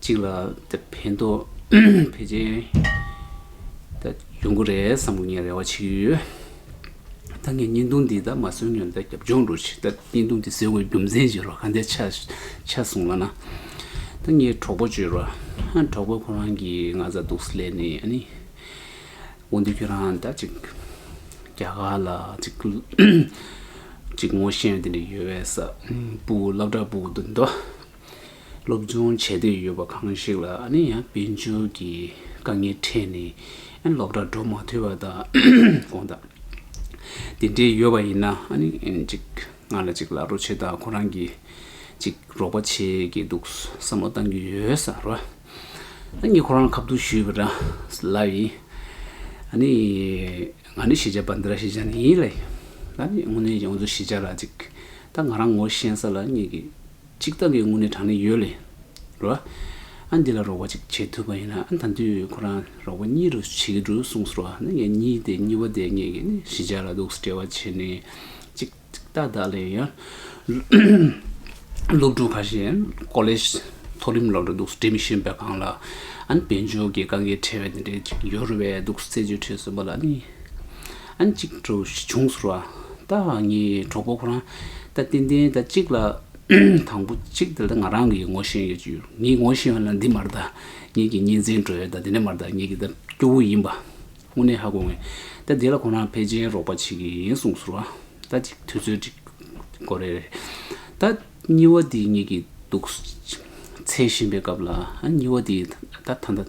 གཅིག་ལ་ཕན་ཐོགས་ཕལ་ཆེར་ཡོང་གི་རེད་བསམ་གྱི་ངས་རེ་བ་བྱེད་ཀྱི་ཡོད། ད་ངས་བརྙན་ཐུང་འདི་ད་མ་སོན་ཡོད་ད་རྒྱབ་ལྗོངས་འགྲོ་ཆེད་ད་བརྙན་ཐུང་འདི་ཟེར་དགོས་རྒྱུ་མཚན་ཅི་རོ་ག་འདི་ཆ་ཆ་སོང་ལ་ན་ད་ངའི་གྲོགས་པོ་བརྗོད་རོགས་གྲོགས་པོ་ཁོ་རང་གིས་ང་ཚ་གདུག་ས་ལས་ནས་ཨ་ནི་འོ་འདི་ཁྱོད་རང་ད་ཅིག་རྒྱ་གར་ལ་ཅིག་ཅིག་ངོ་ཤེས་ཡོད་འདི་འདྲ་ཡོད་བས་ས་སྤུ་བླ་བྲག་སྤུ་འདི་འདྲ་སློབ་སྦྱོང་བྱེད་འདོད་ཡོད་པ་གང་ཞིག་ལ་ནི་ཡང་དཔལ་འབྱོར་གྱི་དཀའ་ངལ་འཕྲད་ནས་སློབ་གྲྭར་འགྲོ་མ་ཐུབ་པ་དང་གང་དང། དེ་འདྲའི་ཡོད་པ་ཡིན་ན་ཅིག་ང་ལ་ཅིག་ལག་འགྲོ་བྱེད་དང་ཁོ་རང་གི་ཅིག་རོགས་པ་བྱེད་ཀྱི་འདུག་བསམ་བློ་གཏང་གི་ཡོད་ས་རོ། ངས་ཁོ་རང་ཁ་བསྡུར་ཞུས་པ་འདྲ་ལ་ཡིན། ང་ནི་ཤེས་བྱ་པ་འདི་ར་ཤེས་བྱ་འདི་ཡིན་ལ་ཡིན། དངོས་གནས་ཡོངས་རྫོགས་ཤེས་བྱ་ལ་ཅིག་ད་ང་རང་ངོ་ཤེས་ས་ལ་ངེད་ཀྱི། གཅིག་བདག་གི་དངོས་གནས་གྲངས་ནི་ཡོད། ལོ་ཨ་འདི་ལ་རོགས་པ་གཅིག་བྱེད་ཐུབ་པ་ཡིན་ན་ཨ་ད་དུས་ཁོ་རང་རོགས་པ་གཉིས་རུ་བྱེད་ཀྱི་འགྲོ་གསུངས་སོ། ངས་གཉིས་དེ་གཉིས་བ་དེ་ངེད་ཀྱི་གཞིས་ཆགས་ལ་འདུག་སེ་བྲལ་བ་བྱས་ནས་གཅིག་ཏག་ཏག་ལས་ཡོད། སློབ་ཕྲུག་ཁ་ཤས་ཀོ་ལེ་ཞི་མཐོ་རིམ་སློབ་གྲྭ་འདུག་སེ་བྲེལ་མི་ཤེས་པའི་སྒང་ལ་ཨ་ནི་དཔལ་འབྱོར་གྱི་དཀའ་ངལ་འཕྲད་པའི་དེ་འདྲས་ཡོད་རུ་བས་འདུག་སེ་རྩད་གཅོད་ཁྲིད་གསུངས་པ་ལ་ནི། ཨན་ཅིག་གྲོ་བཞི་ཆུང་ཟུར་བ། རྟ་ཧང་གཉིས་གྲོགས་པོ་ཁོ་རང། རྟ་བརྟན་བརྟན་རྟ་གཅིག་ལ། དང་པོ་གཅིག་དེ་ལྟར་ང་རང་གིས་ངོ་ཤེས་ཡོད་ཀྱི་ཡོད། ངས་ངོ་ཤེས་ཡོད་ན་འདི་མར་རྟ། ངེད་ཀྱི་གཉེན་ཚན་གྲོ་ཡོད་རྟ་དེ་ནས་མར་རྟ་ངེད་ཀྱི་རྟ་སྐྱོ་བོ་ཡིན་པ། དངོས་གནས་ཧ་གོ་ངེས། རྟ་དེ་ལ་ཁོ་རང་ཕལ་ཆེན་རོགས་པ་བྱེད་ཀྱི་ཡིན་གསུངས་ཟུར་བ། རྟ་གཅིག་དུས་ཚོད་གཅིག་གོ་རེ་རེད། རྟ་གཉིས་བ་དེ་ངེད་ཀྱི་འདུག། འཚེ་བཞིན་པའི་སྐབས་ལ་ཨན་གཉིས་བ་དེས་རྟ་ཐ་མདའ།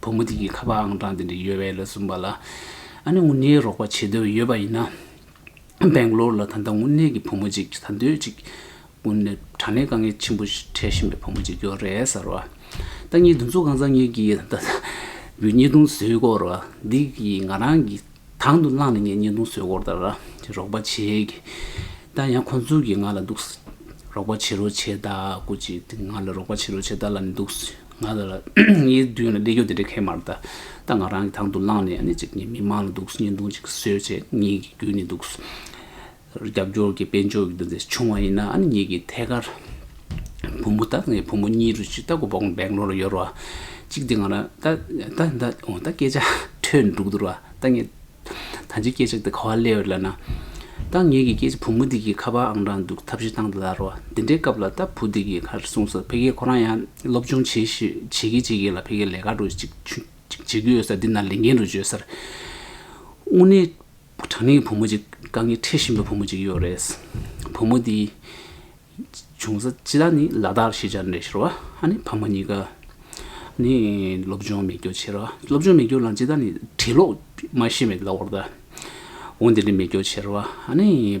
བུ་མོ་དེ་གིས་ཁ་པར་ཨང་གྲངས་དེ་འདྲ་ཡོད་བས་ལ་གསུངས་པ་ལ། ཨ་ནེ་དངུལ་གནས་རོགས་པ་བྱེད་འདོད་ཡོད་པ་ཡིན་ན། སྦེང་ལོར་ལ་ད་ལྟ་དངུལ་གནས་ཀྱི་བུ་མོ་གཅིག་ད་འདོད་ཅིག། དངུལ་གནས་དྲ་གནས་དཀའ་ངལ་ཆེན་པོ་འཕྲད་བཞིན་པའི་བུ་མོ་གཅིག་ཡོད་རེད་ཟེར་བ། ལྟ་ཉེས་འདུ་འཛོ་གང་ཚང་གཉིས་ཀྱིས་ད་ལྟ། བུ་ཉེས་རྡུང་བཟོས་སྐོར་བ་འདི་གིས་ང་རང་གི། དང་དུ་བླངས་ནས་ངས་བརྙན་ཐུང་བཟོས་སྐོར་ལྟར་རོགས་པ་བྱེད། ད་ཡང་ཁོ་ཚོ་གིས་ང་ལ་འདུག། རོགས་པ་བྱེད་རོགས་བྱེད་ད་ཀུ་ཅི་ཏི་ང་ལ་རོགས་པ་བྱེད་རོགས་བྱེད་ད་ལ་ནི་འདུག། ང་ལ་ངའི་མདུན་ལ་བདེ་སྐྱོ་དེ་འདྲའི་ཁལ་མར་ད། ད་ང་རང་གིས་དང་དུ་བླངས་ནས་ནི་ཅིག་ངའི་མི་མང་ལ་འདུག་བརྙན་ཐུང་ཅིག་བཟོས་རྗེས་ངེད་ཀྱིས་བརྒྱུད་ནས་འདུག། རྒྱབ་སྐྱོར་གྱི་དཔལ་འབྱོར་གྱི་འདུ་འཛི་ཆུང་བ་ཡིན་ན་ཨ་ནེ་གཉིས་ཀྱིས་ཐད་ཀར་བུ་མོ་དང་བུ་མོ་གཉིས་རུ་ཅི་ལྟ་བུ་བོང་བེང་ལོ་ལ་ཡོར་བ་གཅིག་དེ་ང་རང་ད་ད་ད་ད་སྐད་ཆ་ཐོས་འདུག་འདུར་བ་ད་ངས་ད་ཅི་སྐད་ཆ་དེ་ག་བ་གླེང་བ་ལབ་ན་ད་ངེད་ཀྱི་སྐད་ཆ་བུ་མོ་དེ་གིས་ཁ་པར་ཨང་གྲངས་འདུག་ཐབས་ཤེས་བཏང་དར་བ་དེ་འདྲའི་སྐབས་ལ་ད་བུ་དེ་གིས་ཁ་རེ་གསུངས་སོ་ཕལ་སྐད་ཁོ་རང་ཡང་སློབ་སྦྱོང་བྱེད་ཤེས་བྱེད་ཀྱིན་བྱེད་ཀྱིན་ལ་ཕལ་སྐད་ལས་ཀ་རུ་ཅིག་བྱེད་རྒྱུ་ཡོད་ས་འདི་ན་ལས་འགན་རུ་བརྗོད་སར་དངོས་གནས་དྲང་ནི་བུ་མོ་གཅིག་དཀའ་ངལ་འཕྲད་བཞིན་པའི་བུ་མོ་གཅིག་ཡོད་རེད། བུ་མོ་དེའི་བྱུང་ས་ཅི་ལ་ནི་ལ་དྭགས་ཤེས་བྱ་འདྲེན་ཤོར་བ་ཨ་ནི་ཕ་མ་གཉིས་ཀ་ནི་སློབ་སྦྱོང་མི་སྐྱོ་ཆེ་ར་སློབ་སྦྱོང་མི་སྐྱོ་ལ་ཇི་ལྟར་ནི་བྲིས་ཀློག་མ་ཤེས་པའི་ལ་བར་ད་འོ་འདི་འདྲའི་མི་སྐྱོ་ཆེ་ར་ཨ་ནི།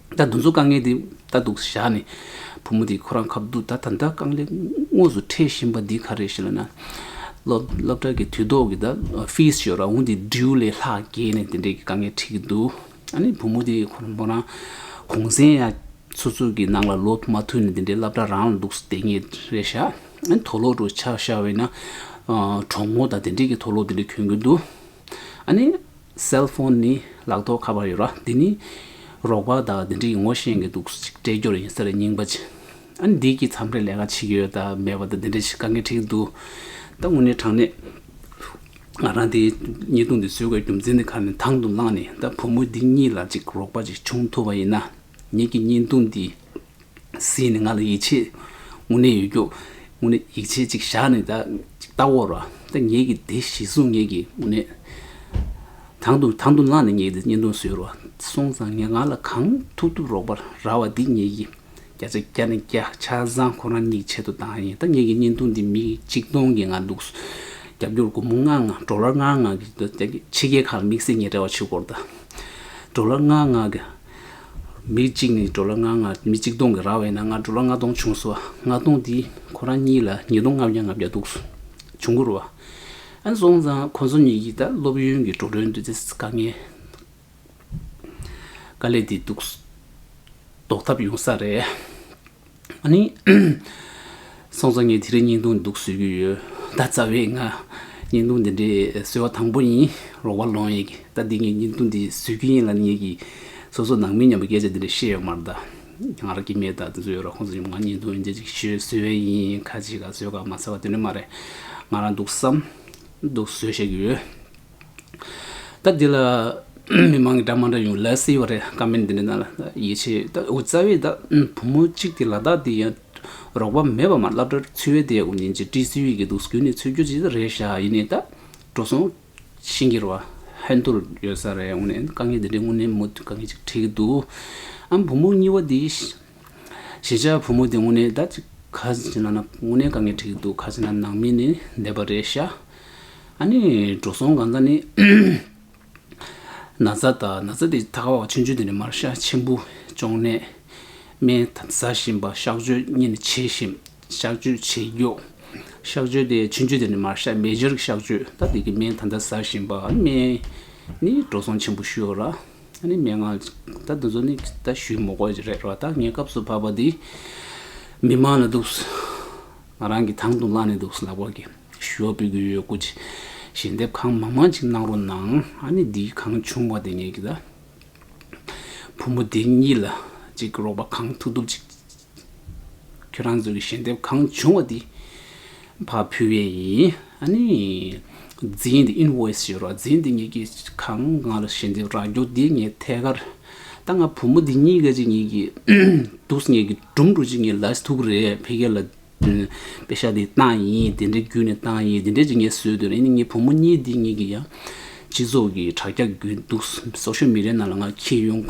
ད་འདུ་འཛོ་དཀའ་ངལ་འདི་ལྟ་འདུག་བཞག་ནས་བུ་མོ་དེ་ཁོ་རང་ཁབ་འདུག་ད་ད་ལྟ་རྐང་ལེགས་དངོས་སུ་འཕྲད་བཞིན་པ་འདི་ག་རེད་ཞེ་ན་ན། སློབ་གྲྭ་གི་དུས་ཐོག་གི་ད fees ཞེས་རང་བོ་འདི due ལས་ལྷག་རྒྱས་ནས་དེ་འདྲས་ཀྱི་དཀའ་ངལ་འཕྲད་ཀྱི་འདུག་ཨ་ནི་བུ་མོ་དེ་ཁོ་མོ་རང་གུང་གསེང་ཡ་ཚུགས་ཚུགས་ཀྱི་ནང་ལ་ལོ་མ་མཐུད་ནས་དེ་འདྲས་སླབ་གྲྭ་རང་ལ་འདུག་ལྟས་ངེས་རེད་བཞག་ཨ་ནི་དོ་ལོག་དྲུག་ཆ་བཞག་བས་ན་གྲོགས་མོ་དང་དེ་འདྲས་ཀྱི་དོ་ལོག་དེ་འདྲས་གྱོན་གྱི་འདུག་ཨ་ནི། སེལ་ཧྥོན་ནི་ལག་ཐོག་ཁ་པར་ཡོད་ར་འདི་ནི། རོགས་པ་དག་འདི་འདྲ་ཡིན་ངོ་ཤེས་གི་འདུག་སྤྲད་རྒྱུར་ཡིན་ཟེར་རྙིང་པ། ཨ་ནི་འདི་གི་མཚམས་རེ་ལས་ཀ་བྱེད་ཀྱི་ཡོད་དང་མེད་པ་དང་འདི་འདྲ་བྱེད་དཀའ་ངེས་དྲིས་ཀྱི་འདུག་ད་དངོས་གནས་དྲང་གནས། ང་རང་འདི་ཉེས་རྡུང་འདི་བཟོད་དགོས་རྒྱུ་མཚན་འདི་ག་ནས་དང་དུ་བླངས་ནས་ད་བུ་མོ་འདི་གཉིས་ལ་ཅིག་རོགས་པ་ཅིག་བྱུང་ཐུབ་པ་ཡིན་ན། ངེད་ཀྱི་ཉེས་རྡུང་འདི་སྲིད་ནི་ང་ལ་ཡིད་ཆེས་དངོས་གནས་ཡོད་རྒྱུ། དངོས་གནས་ཡིད་ཆེས་ཅིག་བཞག་ནས་ད་ཅིག་ལྟ་འོ། ད་ངེད་ཀྱི་དེ་གཞི་བཟུང་ངེད་ཀྱི་དངོས་གནས། དང་དུ་དང་དུ་བླངས་ནས་ངེད་ཀྱི་བརྙན་ཐུང་བཟོས་རོགས། སོང་ཙང་ངས་ང་ལ་གང་ཐུབ་ཐུབ་རོགས་པར་ར་བ་འདི་ངེད་ཀྱི་བརྒྱ་ཆ་བརྒྱ་ནས་བརྒྱ་ཆ་བཟང་ཁོ་རང་ཉིད་ཆེད་དུ་བཏང་ཡིན་ད་ངེད་ཀྱི་བརྙན་ཐུང་འདི་མི་གཅིག་སྟོང་གིས་ང་འདུག་རྒྱབ་སྐྱོར་སྒོར་མོ་ལྔ་ལྔ་འགྲོ་ལར་ལྔ་ལྔ་གིས་ཕྱི་རྒྱལ་ཁག་ལ་དམིགས་བསལ་ངེད་བྲེལ་བ་ཆེ་སྐོར་དང། འགྲོ་ལར་ལྔ་ལྔ་གིས་མི་གཅིག་ནི་འགྲོ་ལ་ལྔ་ལྔ་མི་གཅིག་སྟོང་གི་ར་བས་ན་ལྔ་འགྲོ་ལ་ལྔ་སྟོང་བྱུང་སོ། ལྔ་སྟོང་དེ་ཁོ་རང་གཉིས་ལ་ཉིས་སྟོང་ལྔ་བརྒྱ་ལྔ་བརྒྱ་འདུག་སོ། བྱུང་གུར་བ། ཨན་སོང་ཙང་ཁོ་ཚོ་གཉིས་ཀྱིས་ད་སློབ་ཡོན་གྱི་འགྲོ་གྲོན་འདོད་ཚེ་དཀའ་ངལ། དཀའ་ལས་དེ་འདུག་རྟོགས་ཐབས་ཡོང་ས་རེད། སང་ཙོ་ངས་དེ་རིང་བརྙན་ཐུང་འདུག་བཟོས་ཀྱི་ཡོད་ད་རྩ་བའི་ང་བརྙན་ཐུང་འདི་འདྲའི་བཟོས་བ་དང་པོ་ཡིན་རོགས་པ་ལོང་ཡིག་ད་འདི་ངས་བརྙན་ཐུང་འདི་བཟོས་ཀྱི་ཡིན་ལ་ངེད་ཀྱི་སོ་སོ་ནང་མི་མཉམ་པའི་སྐད་ཆ་འདི་འདྲ་བཤད་ཡོད་མར་ད་ང་རང་གིས་མེད་ད་བཟོས་ཡོད་ར་ཁོང་ཚོ་ཡོང་ང་བརྙན་ཐུང་འདི་ཅིག་ཤོས་བཟོས་བས་ཡིན་ཁ་ཅིག་ལ་བཟོས་ག་མ་ཟེར་བ་དེ་འདྲ་མ་རེད་ང་རང་འདུག་བསམ་འདུག་བཟོས་བཤད་ཀྱི་ཡོད། ད་འདི་ལ་མི་མང་གི་སྒྲ་མ་འདྲ་ཡོང་ལད་སེ་ཡོད་རེད་ཀ་མེད་འདི་འདྲ་ན་ཡིད་ཆེས་ད་འུ་རྩ་བས་ད་བུ་མོ་གཅིག་དེ་ལ་དྭགས་འདི་ཡང་རོགས་པ་མེད་པ་མ་ལབ་དྲ་ཚིལ་བས་དེ་འུ་ཉིན་གཅིག་བཀྲིས་ཚིལ་བས་གི་འདུག་གུས་ནས་ཚུལ་རྒྱུ་ཅི་རེད་ཤ་ཡིན་ནས་ད་འགྲོ་སོང་ཤིང་གིར་བ་ཧན་དུར་ཡོད་ས་རེད་འུ་ནས་དཀའ་ངལ་འདི་འདྲའི་དངོས་གནས་མུ་མཐུད་དཀའ་ངལ་ཅིག་འཕྲད་གི་འདུག་ཨ་བུ་མོ་གཉིས་བ་འདི་གཞིས་ཆགས་བུ་མོ་དེ་དངོས་གནས་ད་ཅིག་ཁ་ཟས་ན་ན་དངོས་གནས་དཀའ་ངལ་འཁྲིགས་འདུག་ཁ་ཟས་ན་ནང་མི་ནི་བསྡད་པ་རེད་ཤག་ཨ་ནི་འགྲོ་སོང་གང་ས་ནི་ན་ཚ་ད་ན་ཚ་དེ་ད་ཁ་བ་ཆུང་ཆུང་དེ་ནི་མར་ཤ་ཆེན་པོ་གཅོང་ནད་སྨན་ཟ་བཞིན་པ་གཤག་བཅོས་གཉིས་ནི་བྱེད་བཞིན་གཤག་བཅོས་བྱེད་རྒྱུག་གཤག་བཅོས་དེ་ཆུང་ཆུང་དེ་ནི་མར་ཤ་མེ་སྦྱར་གཤག་བཅོས་ད་དེ་གི་སྨན་ད་ད་ཟ་བཞིན་པ་སྨན་ནི་འགྲོ་སོང་ཆེན་པོ་ཤོར་ཨ། ཨ་ནི་མན་ངག། ད་འདི་ཚོ་ནི་ད་ཞུས་མོ་ཀོ་རེད་རོ་ད་ངའི་སྐབས་སུ་བབས་པ་འདི་མི་མང་ལ་འདུག། ང་རང་གི་དང་དུ་བླངས་ནས་འདུག་ལག་པ་གི་ཞུ་བ་འབུལ་གི་ཡོད་ཀུ་ཅི། ཞལ་འདེབས་གང་མང་མང་ཅིག་གནང་རོགས་གནང། ཨ་ནི་འདི་གང་བྱུང་བ་དེ་ངས་ཀྱི་ད། བུ་མོ་དེ་གཉིས་ལ་ཅིག་རོགས་པ་གང་ཐུབ་ཐུབ་ཅིག། ཁྱོད་རང་ཚོ་གི་ཞལ་འདེབས་གང་བྱུང་བ་དེ་ཕ་ཕུལ་བས་ཡིན། ཨ་ནི། འཛིན་འདི invoice ཞེས་རོགས་འཛིན་འདི་ངེད་ཀྱིས་གང་ང་ལ་ཞལ་འདེབས་རག་རྒྱུ་དེ་ངས་ཐད་ཀར་ད་ང་བུ་མོ་འདི་གཉིས་ཀ་ཅིག་ངེད་ཀྱི་འདུག་ངེད་ཀྱི་སྒྲུང་འགྲོ་ཅིག་ངེད་ལས་ཐུག་རེད་ཕལ་སྐད་ལ་པེ་ཤ་དེ་བཏང་ཡིན་དེ་འདྲའི་བརྒྱུད་ནས་བཏང་ཡིན་དེ་འདྲའི་ཅིག་ངས་བཟོས་འདོད་རེད་ཨ་ནི་ངེད་བུ་མོ་གཉིས་འདི་གཉིས་ཀྱིས་ཡང་སྤྱི་ཚོགས་ཀྱི་དྲ་རྒྱ་བརྒྱུད་འདུག་སོ་ཤོད་མི་རེ་ན་ལ་ང་ཁྱེད་ཡོང།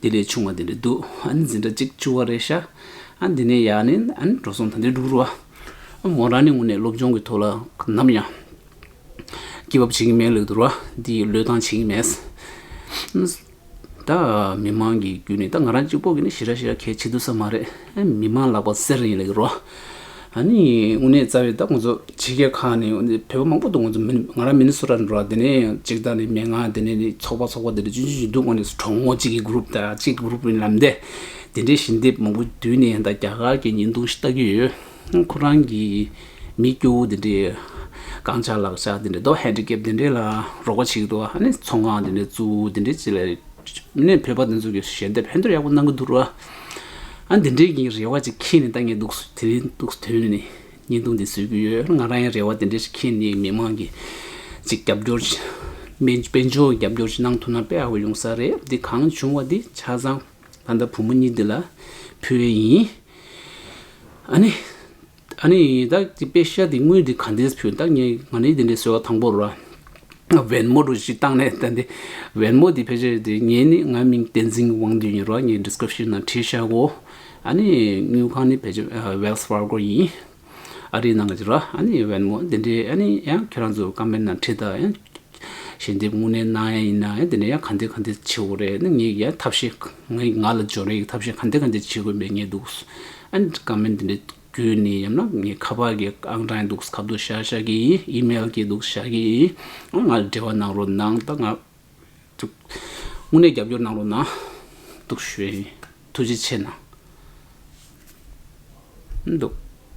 དེ་ལས་བྱུང་བ་དེ་འདྲ་འདུག་ཨ་ནི་འཛིན་གྲྭ་གཅིག་བཅུ་བ་རེད་ཤག་ཨ་འདི་ནས་ཡག་ནི་ཨ་ནི་འགྲོ་སོང་ད་འདྲའི་འགྲོ་རུ་ཨ་མོ་རང་ནི་དངོས་གནས་སློབ་སྦྱོང་གི་ཐོག་ལ་ནམ་ཡང་སྐྱི་བབས་བྱེད་ཀྱི་མེད་ལོས་དོར་བ་འདི་ཡི་བློས་བཏང་བྱེད་ཀྱི་མེད། ད་མི་མང་གི་རྒྱུད་ནས་ད་ང་རང་གཅིག་པོ་གི་ནི་ཞི་ར་ཞི་ར་གལ་ཆེ་དུ་ས་མ་རེད་མི་མང་ལག་པ་གསེར་ཡིན་ལོས་ཀྱི་རོ། ཨ་ནི་དངོས་གནས་རྩ་བའི་ད་ཁོང་ཚོ་ཕྱི་རྒྱལ་ཁག་ནས་བོད་པ་མང་པོ་འདུག་ང་རང་མིན་ནི་སུ་ར་འགྲོ་ར་དེ་ནས་གཅིག་ད་ནི་མན་ངག་དེ་ནས་ནི་ཚོགས་པ་ཚོགས་པ་དེ་ནས་ཅུང་ཅུང་ཞིག་འདུག་ང་ནི་གྲོགས་མོ་གཅིག་གི group དང་གཅིག་གི group ལམ་འདས་དེ་འདྲའི་ཞི་འདེབས་མང་པོ་དུས་ནས་ད་རྒྱ་གར་གྱི་ཉིན་ཐུང་ཞིག་ལྟ་གི་ཡོད་ཁོ་རང་གི་མི་སྐྱོ་བོ་དེ་འདྲའི་རྐང་ཆག་ལག་ཆག་དེ་འདྲའི་དོ handicap དེ་འདྲའི་ལ་རོགས་པ་བྱེད་ཀྱི་འདུག་ཨ་ནི་ཚོང་ཁང་དེ་འདྲའི་བཙུགས་དེ་འདྲའི་བྱེད་ལ་ནི་བོད་པ་དེ་ཚོ་གི་ཞལ་འདེབས་ཧེ་འདྲའི་ཡག་པོ་གནང་གི་འདུག་ར། ཨ་འདི་འདྲའི་ཡིན་རེ་བ་ཅིག་ཁྱེད་ནས་ལྟ་ངེས་འདུག་དེ་རིང་ཐུགས་དོན་ནས་བརྙན་ཐུང་འདི་བཟོས་ཀྱི་ཡོད་ང་རང་ཡང་རེ་བ་དེ་འདྲ་ཞིག་ཁྱེད་ནས་མི་མང་གི་ཅིག་རྒྱབ་སྐྱོར་དཔལ་འབྱོར་གྱི་རྒྱབ་སྐྱོར་ཅིག་གནང་ཐུབ་ན་དཔེ་ཧ་གོ་ཡོང་ས་རེད་འདི་གང་བྱུང་བ་འདི་ཆ་ཚང་ད་ལྟ་བུ་མོ་གཉིས་འདི་ལ་ཕུལ་བས་ཡིན་ཨ་ནི། ཨ་ནི་བདག་གི་དཔེ་ཤ་འདི་དངུལ་འདི་ག་འདིས་ཕུལ་བདག་ངས་ང་ནི་འདི་འདྲའི་ཟེར་བ་དང་པོར་བན་མོ་རུ་ཞིག་བཏང་ནས་བསྡད་དེ། བན་མོ་དེ་ཕལ་ཆེར་དེ་ངས་ནི་ང་མིང་བསྟན་འཛིན་དབང་འདུས་ཡིན་རོགས་ངས description ནང་བྲིས་ཤག་གོ། ཨ་ནི་དངུལ་ཁང་ནི་ཕལ་ཆེར wells fargo ཡིན། ཨ་རིའི་ནང་གི་རོགས་ཨ་ནི་བན་མོ་འདི་འདྲའི་ཨ་ནི་ཡང་ཁྱེད་རང་ཚོ་ཀམ་མེན་ནང་བྲིས་དང། ཞལ་འདེབས་དངོས་གནས་གནང་ཡ་ཡིན་ན་ཡང་དེ་ནས་ཡང་ག་འདི་ག་འདི་བྱེད་དགོས་རེད་ནི་ངའི་ཡ་ཐབས་ཤེས་ངའི་ང་ལ་འཇོན་རེ་ཡིག་ཐབས་ཤེས་ག་འདི་ག་འདི་བྱེད་དགོས་མེད་ངེས་འདུག་ཨན་ཀ་མེན་དེ་འདྲ་བརྒྱུད་ནས་ཡང་ན་ངའི་ཁ་པར་གྱི་ཨང་གྲངས་འདུག་ག་འདུག་བྱ་བྱ་གི་ཡིན་ཨིམེལ་གྱི་འདུག་བྱ་གི་ཡིན་ཨོ་ང་ལ་འབྲེལ་བ་གནང་རོགས་གནང་ད་ང་དངོས་གནས་རྒྱབ་སྐྱོར་གནང་རོགས་གནང་འདུག་བྱོས་ཐུགས་རྗེ་ཆེ་གནང་འདུག།